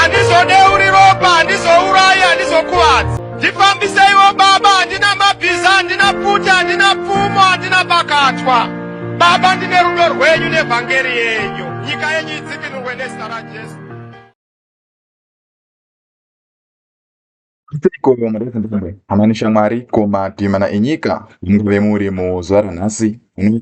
handizodeuri ropa handizourayi handizokuvadzi ndifambiseiwo baba handina mabhiza handina pfuti handina pfumo handina pakatwa baba ndine rudo rwenyu nevhangeri yenyu nyika yenyu idzikinurwe nezita rajesu Seiko mudadzambare hama neshamwari ko madhimana enyika mungave muri muzuva ranhasi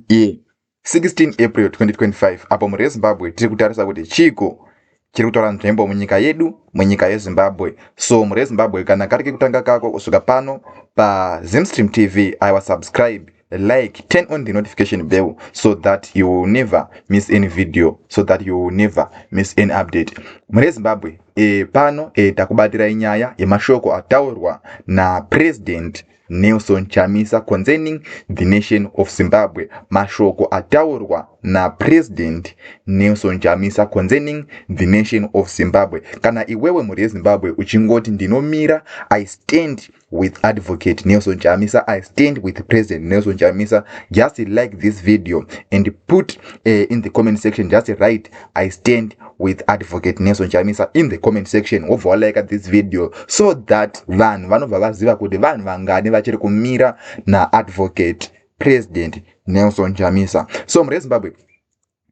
iye 16 April 2025 apo mhuri yeZimbabwe tiri kutarisa kuti chiiko chiri kutora nzvimbo munyika yedu munyika yeZimbabwe so mhuri yeZimbabwe kana kari kekutanga kako kusvika pano paZimstream TV aiwa subscribe like turn on the notification bell so that you will never miss any video so that you will never miss any update mune zimbabwe e, pano e, takubatirai nyaya yemashoko ataurwa napresident nelson chamisa concerning the nation of zimbabwe mashoko ataurwa napresident nelson chamisa concerning the nation of zimbabwe kana iwewe mhuri yezimbabwe uchingoti ndinomira i stand with advocate nelson chamisa i stand with president nelson chamisa just like this video and put uh, in the comment section just write i stand with advocate nelson chamisa in the comment section wobva walaika this video so that vanhu vanobva vaziva kuti vanhu vangani vachiri kumira naadvocate president nelson chamisa so mrezimbabwe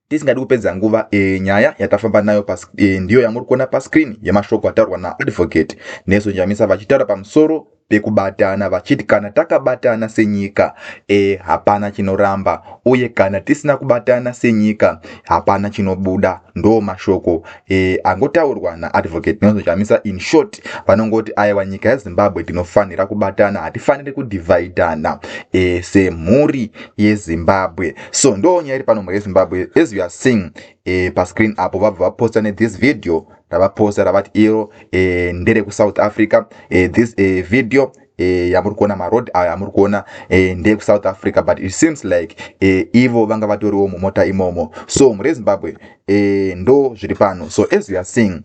tisingadi kupedza nguva e, nyaya yatafamba nayo pas, e, ndiyo yamuri kuona pascreen yemashoko ataurwa naadvocate neso njamisa vachitaura pamusoro pekubatana vachiti kana takabatana senyika e, hapana chinoramba uye kana tisina kubatana senyika hapana chinobuda ndo mashoko e, angotaurwa naadvocate neso njamisa in short vanongoti aiwa nyika yezimbabwe tinofanira kubatana hatifaniri kudivhaidhana e, semhuri yezimbabwe so ndo nyaya iri pano murezimbabwe as you are seeing e, pascreen apo vabva vaposta nethis video ravaposta ravati iro e, ndere kusouth africa e, this e, video e, yamuri kuona maroad ayo amuri kuona e, ndeye kusouth africa but it seems like e, ivo vanga vatoriwo mumota imomo so murezimbabwe e, ndo zviri pano so as you are seeing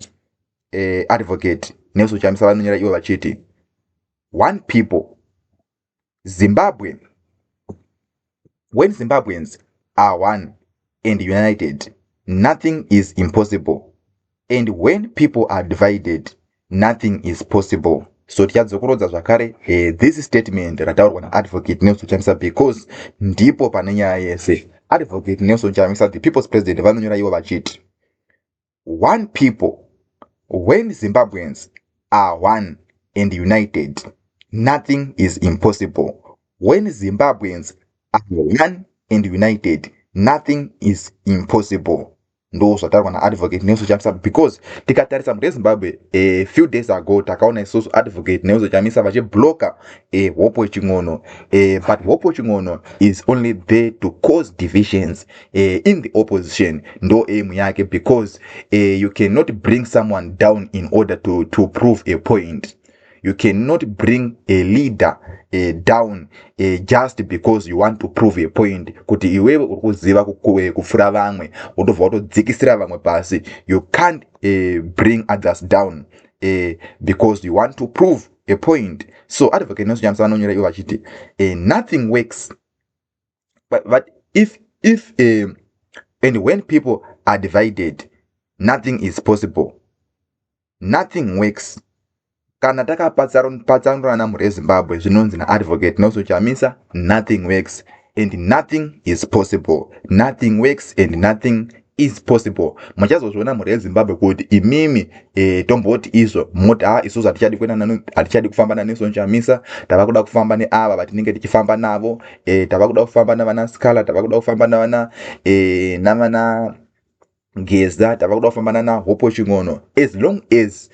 e, advocate nesuchamisa vanonyera ivo vachiti one people zimbabwe when zimbabweans are one and united nothing is impossible and when people are divided nothing is possible so tichadzokorodza zvakare eh, this statement rataurwa naadvocate nelson chamisa because ndipo pane nyaya yese advocate nelson chamisa the people's president vanonyora ivo vachiti one people when zimbabweans are one and united nothing is impossible when zimbabweans are one and united nothing is impossible ndo zvataurwa naadvocate nelson chamisa because tikatarisa mhuri yezimbabwe a eh, few days ago takaona isusu advocate nelson chamisa vachibloka eh, hope wechin'ono eh, but hope wechin'ono is only there to cause divisions eh, in the opposition ndo aim yake because eh, you cannot bring someone down in order to, to prove a point you cannot bring a leader eh, down eh, just because you want to prove a point kuti iwewe uri kuziva eh, kupfuura vamwe wotobva watodzikisira vamwe pasi you can't eh, bring others down eh, because you want to prove a point so advocate nelson nyamisa vanonyora ivo vachiti eh, nothing works but, but if if uh, and when people are divided nothing is possible nothing works kana takapatsanurana mhuri yezimbabwe zvinonzi naadvocate noso chamisa nothing works and nothing is possible nothing works and nothing is possible muchazozviona mhuri yezimbabwe kuti imimi e, tomboti izvo moti ha ah, isusu hatichadi kuenda nanu hatichadi kufamba naneson chamisa tava kuda kufamba neava vatinenge tichifamba navo e, tava kuda kufamba navana scala tava kuda kufamba navana e, navana geza tava kuda kufamba nana hopo chingono as long as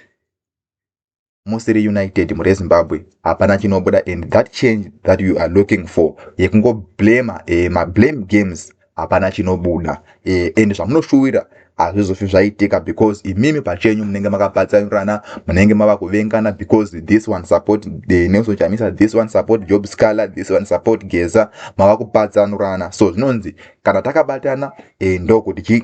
musiri united muri ezimbabwe hapana chinobuda and that change that you are looking for yekungoblema eh, mablame games hapana chinobuda eh, and zvamunoshuwira hazvizofi zvaitika because imimi pachenyu munenge makapatsanurana munenge mava kuvengana because this one support the nelson chamisa this one support job scaler this one support geza mava kupatsanurana so zvinonzi kana takabatana e, ndokuti chii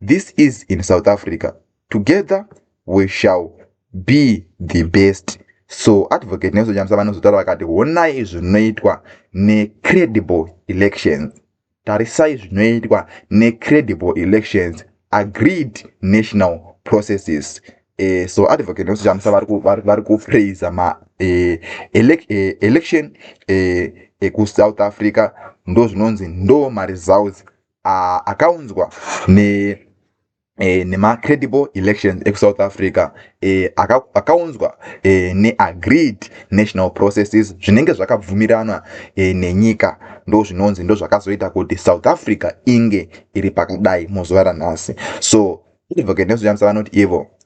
This is in South Africa. Together we shall be the best. So Advocate Nelson Chamisa vanozotaura vakati honai zvinoitwa necredible elections. Tarisai zvinoitwa necredible elections agreed national processes. Eh, so Advocate Nelson Chamisa vari kupraiser ma eh, elec eh, election eh, ekuSouth Africa ndozvinonzi ndo maresults uh, akaunzwa ne E, nemacredible elections ekusouth africa e, akaunzwa e, neagreed national processes zvinenge zvakabvumiranwa e, nenyika ndo zvinonzi ndo zvakazoita kuti south africa inge iri pakadai muzuva ranhasi so advocate nezoshandisa vanoti ivo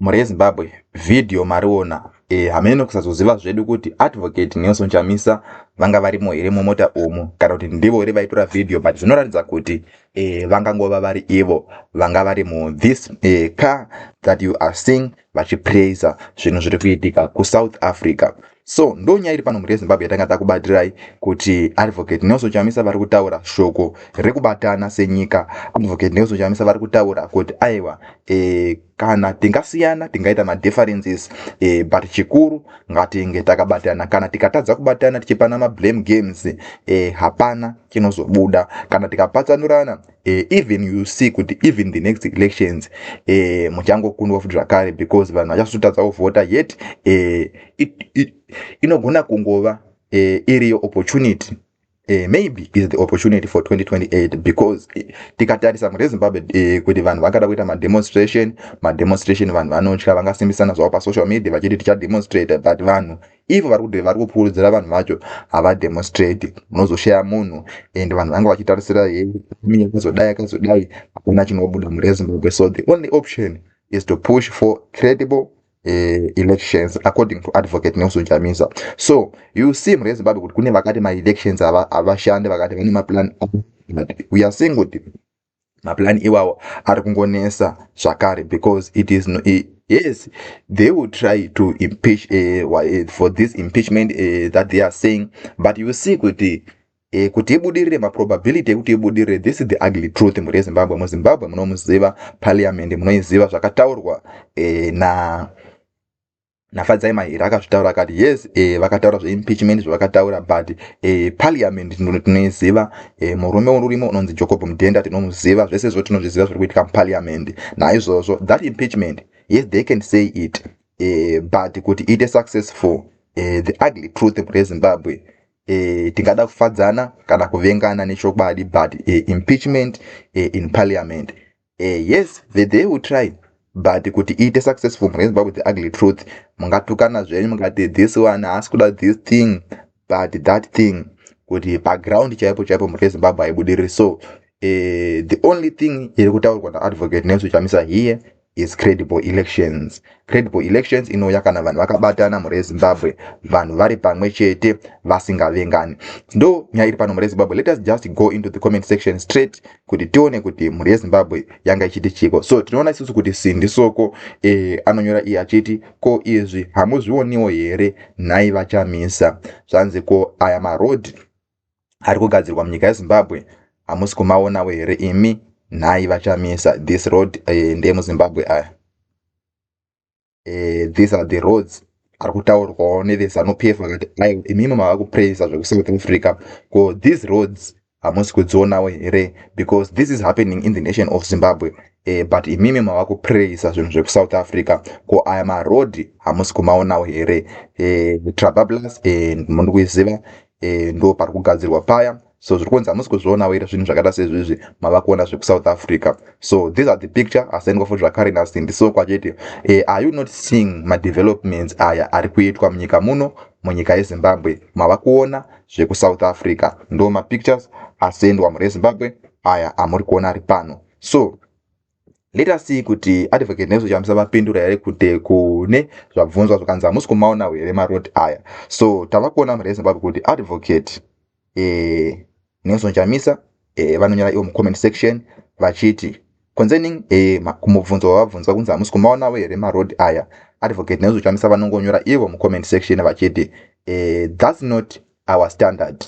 Mhuri yeZimbabwe, vhidhiyo mariona. E, hameno kusazoziva zvedu kuti Advocate Nelson Chamisa vanga varimo here mumota umu kana kuti ndivo here vaitora vhidhiyo but zvinoratidza kuti e, vangangova vari ivo vanga vari mu this e, car that you are seeing vachipraiser zvinhu zviri kuitika kuSouth Africa. So ndo nyaya iri pano mhuri yeZimbabwe yatanga takubatirai kuti Advocate Nelson Chamisa vari kutaura shoko rekubatana senyika. Advocate Nelson Chamisa vari kutaura kuti aiwa e, kana tingasiyana tingaita madifferences eh, but chikuru ngatinge takabatana kana tikatadza kubatana tichipana mablame games eh, hapana chinozobuda kana tikapatsanurana eh, even you see kuti even the next elections eh, muchangokundwa futi zvakare because vanhu vachasotadza kuvhota yet eh, inogona kungova eh, iriyo opportunity Eh, maybe is the opportunity for 2028 because eh, tikatarisa mune zimbabwe eh, kuti vanhu vangada kuita mademonstration mademonstration vanhu vanotya vangasimbisana zvavo pasocial media vachiti tichademonstrate but vanhu ivo vari kuti vari kupfuurudzira vanhu vacho havademonstrate munozoshaya munhu and vanhu vanga vachitarisira he miya kazodai akazodai hakuna chinobuda mune zimbabwe so the only option is to push for credible uh, elections according to advocate nelson chamisa so you see mhuri yezimbabwe kuti kune vakati maelections havashande vakati vane maplan we are seeing kuti maplan iwawo ari kungonesa zvakare because it is no, it, yes they will try to impeach uh, for this impeachment uh, that they are saying but you see kuti E, kuti ibudirire maprobability ekuti ibudirire this is the ugly truth mhuri yezimbabwe muzimbabwe munomuziva parliament munoiziva zvakataurwa e, na nafadzai mahira akazvitaura akati yes e, vakataura zveimpeachment zvavakataura but e, parliament tinoiziva e, murume urimo unonzi jocob mudhenda tinomuziva zvese zvo tinozviziva zviri kuitika muparliament naizvozvo that impeachment yes they can say it e, but kuti iite successful e, the ugly truth mhuri yezimbabwe e, tingada kufadzana kana kuvengana nechokwadi but e, impeachment e, in parliament e, yes the day will try but kuti iite successful mune zimbabwe the ugly truth mungatukana zvenyu mungati this one haasi kuda this thing but that thing kuti paground chaipo chaipo mune zimbabwe haibudiriri so e, the only thing iri kutaurwa naadvocate nelson chamisa here Yes, credible elections. Credible elections inouya kana vanhu vakabatana mhuri yezimbabwe vanhu vari pamwe chete vasingavengani ndo nyaya iri pano mhuri yezimbabwe let us just go into the comment section straight kuti tione kuti mhuri yezimbabwe yanga ichiti chiko so tinoona isusu kuti sindi soko e, anonyora iye achiti ko izvi hamuzvioniwo here nhai vachamisa zvanzi ko aya maroad ari kugadzirwa munyika yezimbabwe hamusi kumaonawo here imi nhai vachamisa this road eh, ndeemuzimbabwe aya eh, these are the roads ari kutaurwawo nevezanu p f vakati aiwa imimi mava kupraisa zvekusouth africa ko these roads hamusi kudzionawo here because this is happening in the nation of zimbabwe eh, but imimi mava kupraisa zvinhu zvekusouth africa ko aya maroad hamusi kumaonawo here eh, trabablus eh, mundi kuiziva e, ndo pari kugadzirwa paya so zviri kunzi hamusi kuzvionawo iri zvinhu zvakaita sezvizvi mava kuona zvekusouth africa so these are the picture asendwa futi zvakare nasindi soko achiti e, are you not seeing madevelopments aya ari kuitwa munyika muno munyika yezimbabwe mava kuona zvekusouth africa ndo mapictures asendwa mhuri yezimbabwe aya amuri kuona ari pano so let us see kuti advocate nelson chamisa vapindura here kuti kune zvabvunzwa zvakanzi hamusi kumaona here maroti aya so tava kuona murei zimbabwe kuti advocate eh, nelson chamisa eh, vanonyora ivo mucomment section vachiti concerning eh, kumubvunzo wavabvunzwa kunzi hamusi kumaonawo here marodi aya advocate nelson chamisa vanongonyora ivo mucomment section vachiti eh, thats not our standard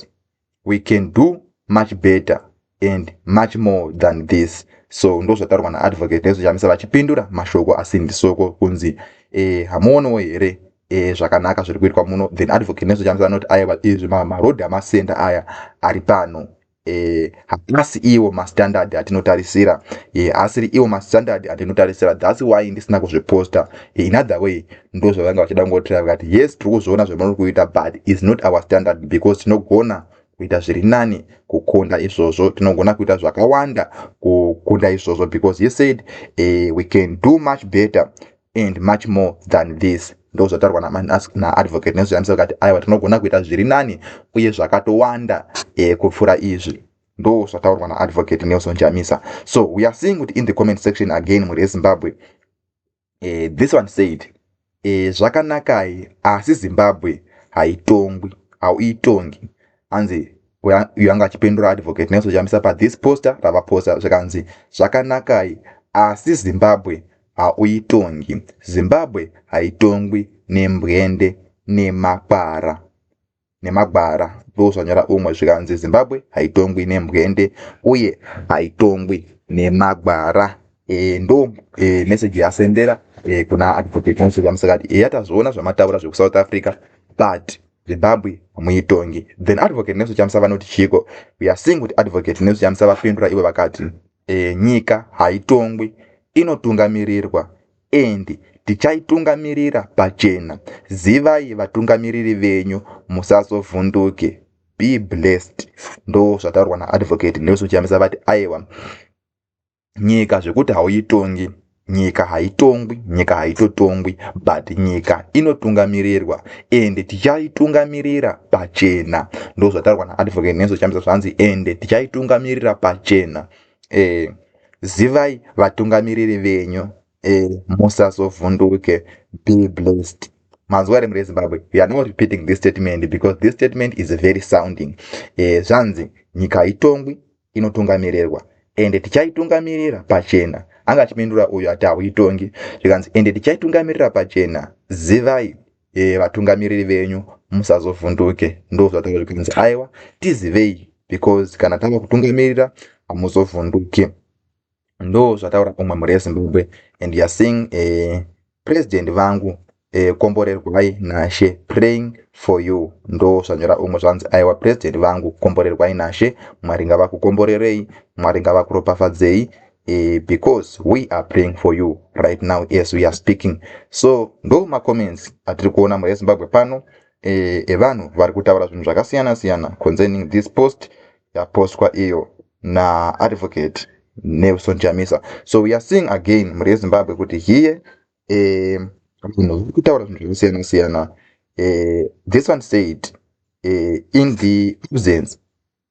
we can do much better and much more than this so ndozvataurwa naadvocate nezvechamisa vachipindura mashoko asindisoko kunzi e, hamuonowo here e, zvakanaka zviri kuitwa muno then advocate nezvechamisa anoti aiwa izvi maroad amasenda aya ari pano e, haasi iwo mastandard atinotarisira e, haasiri iwo mastandard atinotarisira thats why ndisina kuzviposta e, in other way ndozvavanga vachida kungotira vakati yes tiri kuzviona zvamunori kuita but is not our standard because tinogona kuita zviri nani kukunda izvozvo tinogona kuita zvakawanda kukunda izvozvo because he said eh, we can do much better and much more than this ndozvataurwa naadvocate nezviyamisa vakati aiwa tinogona kuita zviri nani uye zvakatowanda eh, kupfuura izvi ndo zvataurwa naadvocate nelson jamisa so we are seeing kuti in the comment section again mhuri yezimbabwe e, this one said e, zvakanakai asi zimbabwe haitongwi hauitongi anzi uyo anga achipindura advocate nelson chamisa pathis poster ravaposta zvikanzi zvakanakai asi zimbabwe hauitongi zimbabwe haitongwi nembwende nemakwara nemagwara ndozvanyora umwe zvikanzi zimbabwe haitongwi nemhwende uye haitongwi nemagwara e, ndo e, message yasendera e, kuna advocate musikati eya tazviona zvamataura zvekusouth africa but zimbabwe hamuitongi then advocate nelson chamisa vanoti chiiko we are seeing kuti advocate nelson chamisa vapindura ivo vakati e, nyika haitongwi inotungamirirwa and tichaitungamirira pachena zivai vatungamiriri venyu musazovhunduke be blessed ndo zvataurwa naadvocate nelson chiyamisa vati aiwa nyika zvekuti hauitongi nyika haitongwi nyika haitotongwi but nyika inotungamirirwa ende tichaitungamirira pachena ndozvataurwa naadvocate nenso chamisa zvanzi ende tichaitungamirira pachena e, zivai vatungamiriri venyu e, musazovhunduke be blessed manzwa here murezimbabwe we are not repeating this statement because this statement is very sounding e, zvanzi nyika haitongwi inotungamirirwa ende tichaitungamirira pachena anga achipindura uyo ati hauitongi zvikanzi ende tichaitungamirira pachena zivai e, vatungamiriri venyu musazovhunduke ndozvataura zvikanzi aiwa tizivei because kana tava kutungamirira hamuzovhunduki ndo zvataura umwe mhuri yezimbabwe and youare seeing eh, president vangu eh, komborerwai nashe praying for you ndo zvanyora umwe zvanzi aiwa president vangu komborerwai nashe mwari ngavakukomborerei mwari ngavakuropafadzei eh, because we are praying for you right now as we are speaking so ndo macomments atiri kuona mhuri yezimbabwe pano eh, evanhu eh, vari kutaura zvinhu zvakasiyana siyana concerning this post yapostwa iyo naadvocate nelson chamisa so we are seeing again mhuri yezimbabwe kuti hiye eh, vanhu eh, vari kutaura zvinhu zvakasiyana siyana eh, this one said eh, in the absence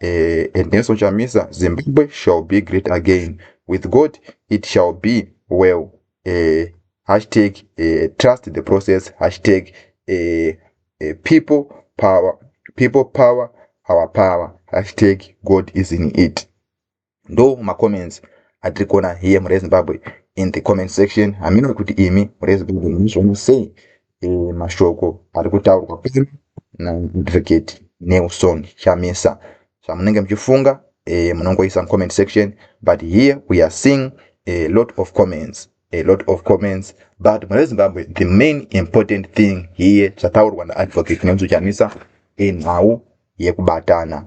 eh, Ernesto Chamisa Zimbabwe shall be great again with God it shall be well eh, hashtag eh, trust the process hashtag eh, eh, people power people power our power hashtag God is in it ndo macomments atiri kuona here murezimbabwe in the comment section hamino kuti imi murezimbabwe munozviona sei e, mashoko ari kutaurwa pano naadvocate nelson chamisa zvamunenge muchifunga e, munongoisa mucomment section but here we are seeing a lot of comments a lot of comments but mune zimbabwe the main important thing here zvataurwa naadvocate nemuzochanisa inhau yekubatana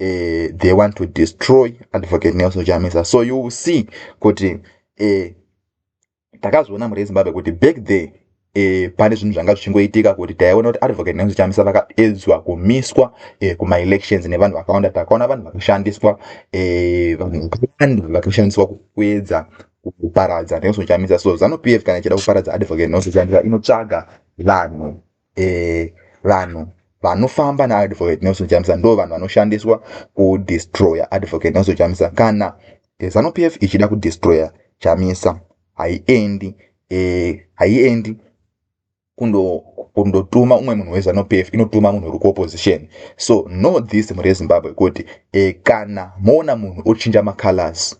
uh, they want to destroy advocate nelson chamisa so you will see kuti uh, takazviona mhuri yezimbabwe kuti back there E, pane zvinhu zvanga zvichingoitika kuti taiona kuti advocate nelson chamisa vakaedzwa kumiswa e, kumaelections nevanhu vakawanda takaona vanhu vakashandiswa e, vanhu vakawanda vakashandiswa kuedza kuparadza nelson chamisa so zanu p f kana ichida kuparadza advocate nelson chamisa inotsvaga vanhu eh, vanhu vanofamba naadvocate nelson chamisa ndo vanhu vanoshandiswa kudestroyer advocate nelson chamisa kana eh, zanu p f ichida kudestroyer chamisa haiendi eh, haiendi eh, kundotuma umwe munhu wezanu p f inotuma munhu uri kuopposition so know this mhuri yezimbabwe kuti eh, kana moona munhu ochinja macolors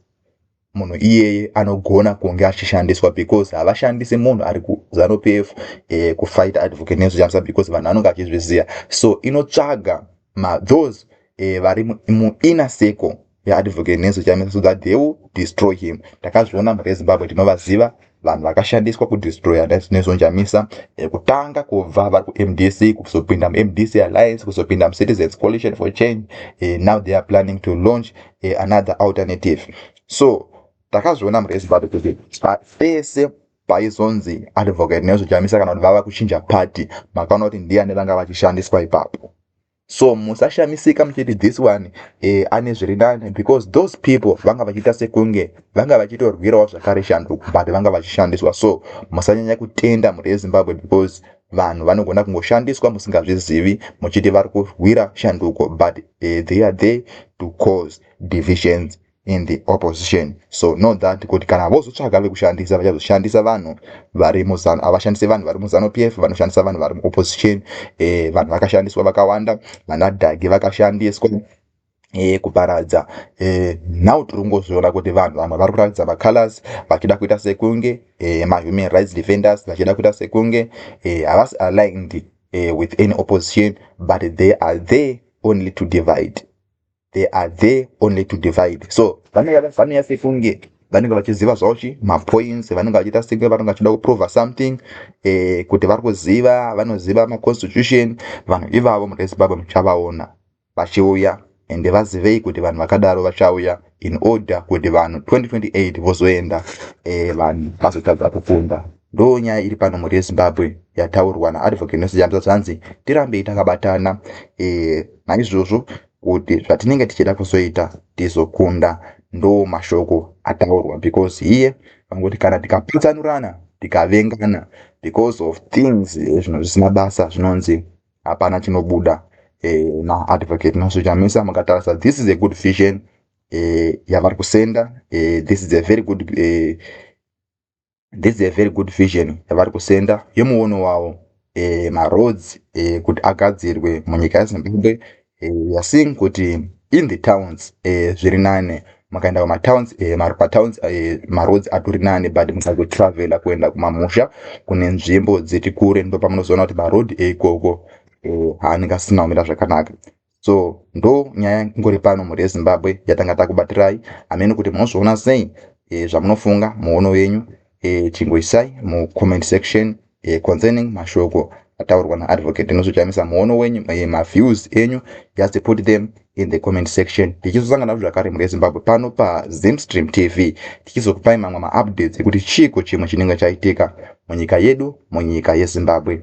munhu iyeye anogona kunge achishandiswa because havashandise munhu ari kuzanupf eh, kufight advocate nezvichamisa because vanhu anonge achizviziva so inotsvaga mathose eh, vari muinner circle yeadvocate nezvichamisa so that they will destroy him takazviona mhuri yezimbabwe tinovaziva vanhu vakashandiswa kudestroya nezonjamisa eh, kutanga kubva vari kumdc kuzopinda mumdc alliance kuzopinda mucitizens coalition for change eh, now they are planning to launch eh, another alternative so takazviona mhuri yezimbabwe kuti pese paizonzi advocate nezvojamisa kana kuti vava kuchinja party makaona kuti ndiyani vanga vachishandiswa ipapo so musashamisika muchiti this one eh, ane zviri nani because those people vanga vachiita sekunge vanga vachitorwirawo zvakare shanduko but vanga vachishandiswa so musanyanya kutenda mhuri yezimbabwe because vanhu vanogona kungoshandiswa musingazvizivi muchiti vari kurwira shanduko but eh, they are there to cause divisions in the opposition so know that kuti kana vozotsvaga vekushandisa vachazoshandisa vanhu vari muzanu havashandise vanhu vari muzanu p f vanoshandisa vanhu vari muopposition eh, vanhu vakashandiswa vakawanda vanadhagi vakashandiswa eh, kuparadza eh, now tiri kungozviona kuti vanhu vamwe vari kuratidza macolors vachida kuita sekunge eh, mahuman rights defenders vachida kuita sekunge eh, havasi eh, aligned eh, with any opposition but they are there only to divide they are there only to divide so vanouya sekunge vanenge vachiziva zvavo chi mapoints vanenge vachiita senge vanenge vachida kuprova something eh, kuti vari kuziva vanoziva maconstitution vanhu ivavo mune zimbabwe muchavaona vachiuya ende vazivei kuti vanhu vakadaro vachauya in order kuti vanhu 2028 vozoenda eh, vanhu vazotadza kukunda Ndoo nyaya iri pano mhuri yeZimbabwe yataurwa naAdvocate Nosi Jambza zvanzi tirambei takabatana e, naizvozvo kuti zvatinenge tichida kuzoita tizokunda. Ndoo mashoko ataurwa because here vangoti kana tikapatsanurana tikavengana because of things eh, zvino zvisina basa zvinonzi hapana chinobuda e, eh, naAdvocate Nosi Jambza mukatarisa this is a good vision e, yavari kusenda e, this is a very good e, this is a very good vision yavari kusenda yemuono wavo e, maroads e, kuti agadzirwe munyika yezimbabwe e, yasing kuti in the towns e, zviri nane makaenda kumatowns e, patowns e, maroads atori nane but musazotravela kuenda kumamusha kune nzvimbo dziri kure ndopamunozoona kuti maroad eikoko e, haanenge asina kumira zvakanaka so ndo nyaya ngori pano mhuri yezimbabwe yatanga takubatirai amene kuti munozviona sei e, zvamunofunga muono yenyu e, chingoisai mucomment section e, concerning mashoko ataurwa naadvocate inozochamisa muono wenyu e, maviews enyu just put them in the comment section tichizosanga nazvo zvakare mhuri yezimbabwe pano pazimstream tv tichizokupai mamwe maupdates ekuti chiiko chimwe chinenge chaitika munyika yedu munyika yezimbabwe